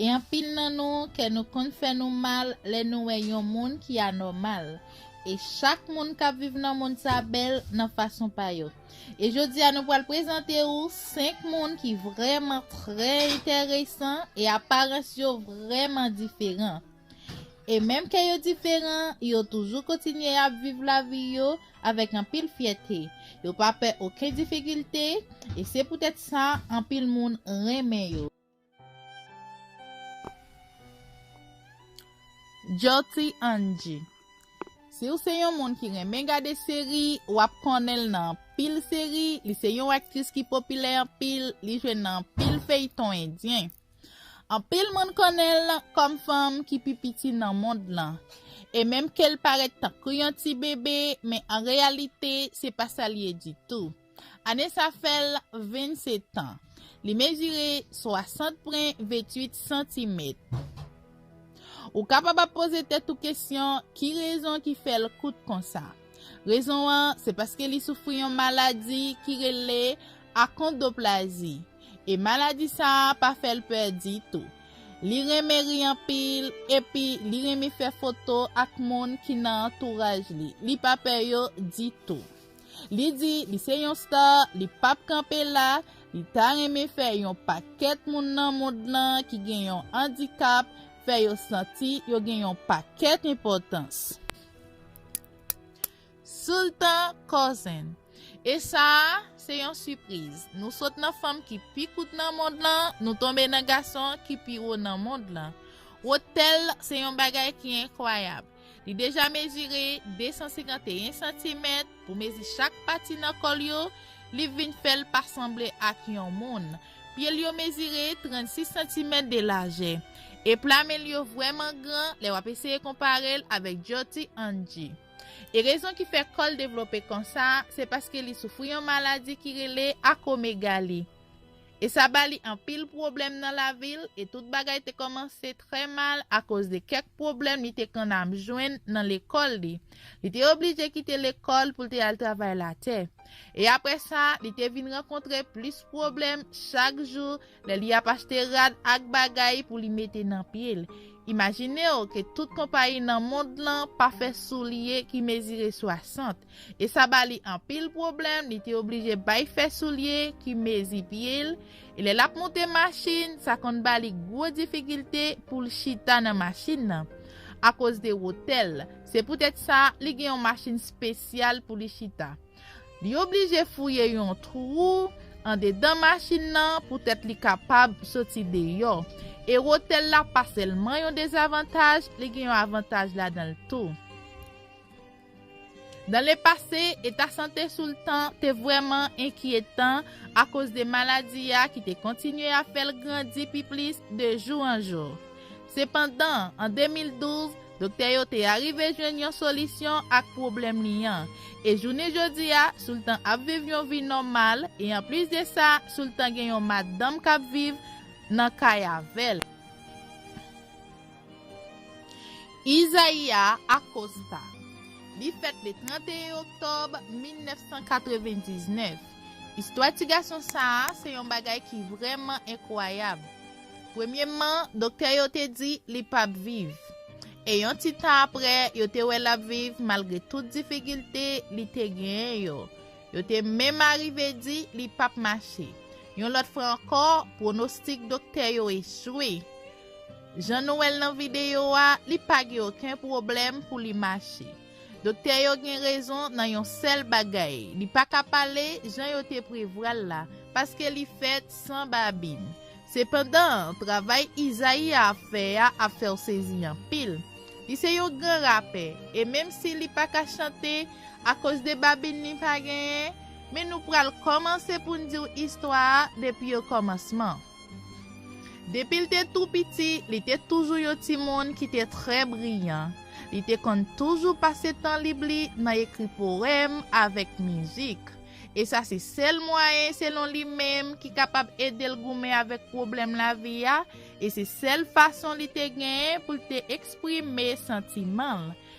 E anpil nan nou, kè nou konn fè nou mal lè nou wè yon moun ki anòmal. E chak moun k ap viv nan mond sa bèl nan fason pa yo. E jodi a nou pral prezante ou 5 moun ki vrèman trè enteresan e aparans yo vrèman diferan. E menm kè yo diferan, yo toujou kontinye ap viv lavi yo avèk anpil fyète. Yo pa pè oken difikilte, e se poutèt sa anpil moun renmen yo. Jyoti Anji Si w se yon moun ki renmen gade seri, w ap konnen l nan anpil seri, li se yon aktris ki popilè anpil, li jwe nan anpil feyton endyen. Anpil moun konnen l kòm fanm ki pi piti nan mond lan, e menm ke l parèt tankou yon ti bebe, men an reyalite se pa sa l ye ditou. Ane sa fè l 27 tan. Li mezire 60 pwen 28 santimèt. Ou kapab ap poze tèt ou kesyon ki rezon ki fè l kout konsa. Rezon an se paske li soufri yon maladi ki rele akondoplazi e maladi sa pa fè l pè ditou. Li renmen ri anpil epi li renmen fè foto ak moun ki nan antouraj li. Li pa pè yo ditou. Li di li se yon star, li pap kanpe la, li ta renmen fè yon pakèt moun nan mond lan ki gen yon andikap fè yo santi yo gen yon pakèt enpòtans. Sultan Cousin, E sa a, se yon sipriz. Nou sot nan fanm ki pi kout nan mond lan, nou tonbe nan gason ki pi wo nan mond lan. Wotèl se yon bagay ki enkwayab. Li deja mezire 251 santimèt pou mezi chak pati nan kò l yo, li vin fè l pa sanble ak yon moun. Pye l yo mezire 36 santimèt de lajè. E pla men l yo vrèman gran lè w ap eseye konpare l avèk Jyoti Anji. E rezon ki fè kò l devlope konsa, se paske li soufri yon maladi ki rele akomegali. E sa ba li anpil pwoblèm nan lavi l, e tout bagay te kòmanse trè mal akoz de kèk pwoblèm li te konn ap jwenn nan lekòl li. Li te oblije kite lekòl pou l te al travay latè. E apre sa, li te vin rankontre plis pwoblèm chak jou lè li ap achte rad ak bagay pou li mete nan pye l. Imajine w ke tout konpayi nan mond lan pa fè soulye ki mezire 60. E sa ba li anpil pwoblèm, li te oblije bay fè soulye ki mezi pye l, e lè l ap monte machin, sa konn ba li gwo difikilte pou l chita nan machin nan, akoz de wotè l. Se poutèt sa, li gen yon machin spesyal pou li chita. Li oblije fouye yon twou andedan machin nan poutèt li kapab soti deyò. E wotè l la pa sèlman yon dezavantaj, li gen yon avantaj ladan l tou. Dans le passé, eta sante Soultan te vrèman enkyetan akoz de maladi a ki te kontinye ap fè l grandi pi plis de jou an jou. Sepandan, an 2012, doktè yo te arive jwenn yon solisyon ak pwoblèm li an, e jounen jodi a, Soultan ap viv yon vi nòmal, e anplis de sa, Soultan gen yon madanm k ap viv nan kay avè l. Izaia Acosta Li fèt le 31 oktòb 1999. Istwa ti gason sa a se yon bagay ki vrèman enkwayab. Premyèman, doktè yo te di li pap viv. E yon ti tan apre, yo te wè l ap viv malgre tout difikilte li te genyen yo. Yo te menm arive di li pap mache. Yon lòt fwa ankò, pwonostik doktè yo echwe. Jan nou wèl nan videyo a, li pa gen oken pwoblèm pou li mache. Doktè yo gen rezon nan yon sèl bagay, li pa ka pale jan yo te prevwal la, paske li fèt san babin. Sepandan, travay Izayi a ap fè a ap fè w sezi anpil. Li se yon gran rapè, e menm si li pa ka chante akoz de babin li pa genyen, men nou pral kòmanse pou n di w istwa a depi okòmansman. Depi l te tou piti, li te toujou yon timoun ki te trè briyan. Li te konn toujou pase tan lib li nan ekri powèm avèk mizik, e sa se sèl mwayen selon li menm ki kapab ede l goumen avèk pwoblèm lavi a, e se sèl fason li te genyen pou l te eksprime santiman l.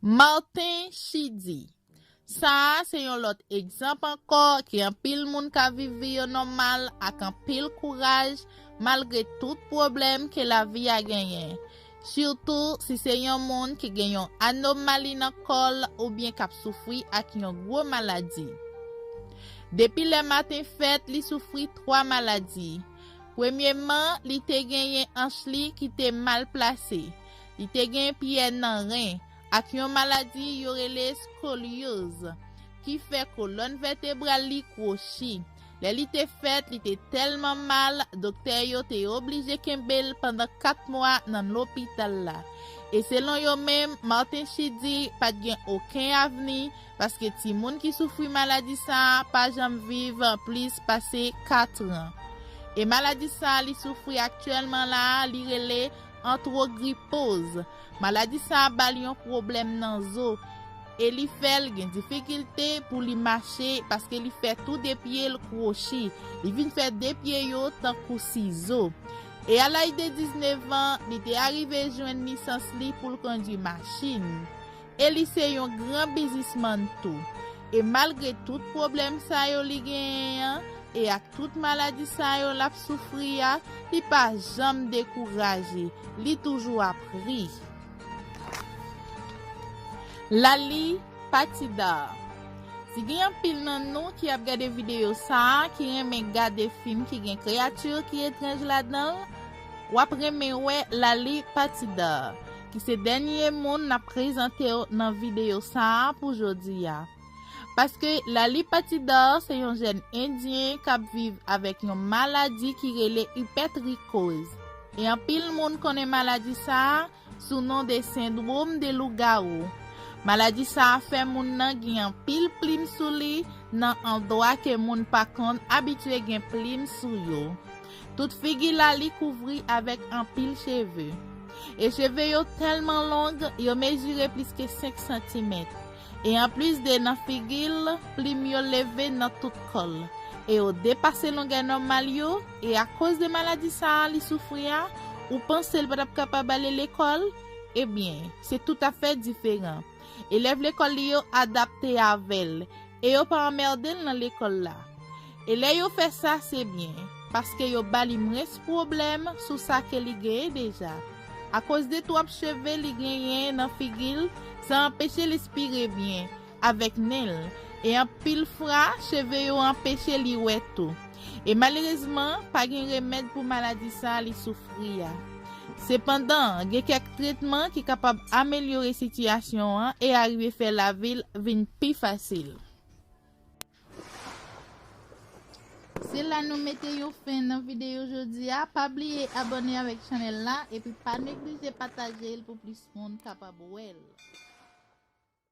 Martin Chidy, Sa a se yon lòt egzanp ankò ke anpil moun ka viv vi yo nòmal ak anpil kouraj malgre tout pwoblèm ke lavi a genyen, sitou si se yon moun ki gen yon anomali nan kò l oubyen k ap soufri ak yon gwo maladi. Depi lè Martin fèt li soufri 3 maladi. Premyeman, li te genyen anch li ki te mal plase, li te gen pyè nan ren, ak yon maladi yo rele scolioze, ki fè kolòn vètebral li kwochi. Lè li te fèt, li te tèlman mal, doktè yo te oblije kenbe l pandan kat mwa nan lopital la. E selon yo menm, Martin Chidy pa t gen oken avni, paske timoun ki soufri maladi sa a pa janm viv plis pase 4 tran. E maladi sa a li soufri aktyèlman la a li rele antwogripoz. Maladi sa a ba l yon pwoblèm nan zo e li fè l gen difikilte pou li mache paske li fè tou 2 pye l kwochi, li vin fè 2 pye yo tankou sizo. E a laj de 19 an, li te arive jwenn lisans li pou l kondwi machin. E li se yon gran bizismann tou. E malgre tout pwoblèm sa yo li genyen an, e ak tout maladi sa yo l ap soufri a, li pa janm dekouraje, li toujou ap ri. Laali, Pati 2 Si gen anpil nan nou ki ap gade videyo sa a ki renmen gade fim ki gen kreyati ki etranj ladan l, w ap renmen wè Laali, Pati 2. ki se dènye moun nap prezantew nan videyo sa pou jodi a. Paske Lali Patidar se yon jèn endyen kap viv avèk yon maladi ki rele ipètrikoz e anpil moun konnen maladi sa sou non de sendwom de lougawou. Maladi sa fè moun nan gen anpil plim sou li nan andwa ke moun pa konn abitye gen plim sou yo. Tout figi Laali kouvri avèk anpil cheve. E cheve yo tèlman long, yo mezire plis ke 5 santimèt. E anplis de nan figi l, plim yo leve nan tout kò l. E yo depase longè nòmal yo, e akoz de maladi sa a li soufri a, ou panse l pa t ap kapab ale lekòl? Ebyen, se toutafè diferan. Elèv lekòl li yo adapte avè l, e yo pa anmède l nan lekòl la. E lè yo fè sa se byen, paske yo ba li mwens pwoblèm sou sa ke li genyen deja. Akoz de twòp cheve li genyen nan figi l, sa anpeche l espire byen, avèk nen l, e anpil fra, cheve yo anpeche li wè tou. E malerezman, pa gen remèd pou maladi sa a li soufri a. Sepandan, gen kèk tretman ki kapab amelyore sitiyasyon an e arive fè lavi l vin pi fasil. Se la nou mete yon fen nan videyo jodi a, pa bliye abone avèk chanèl la epi pa neglije pataje l pou plis moun kapab wè l.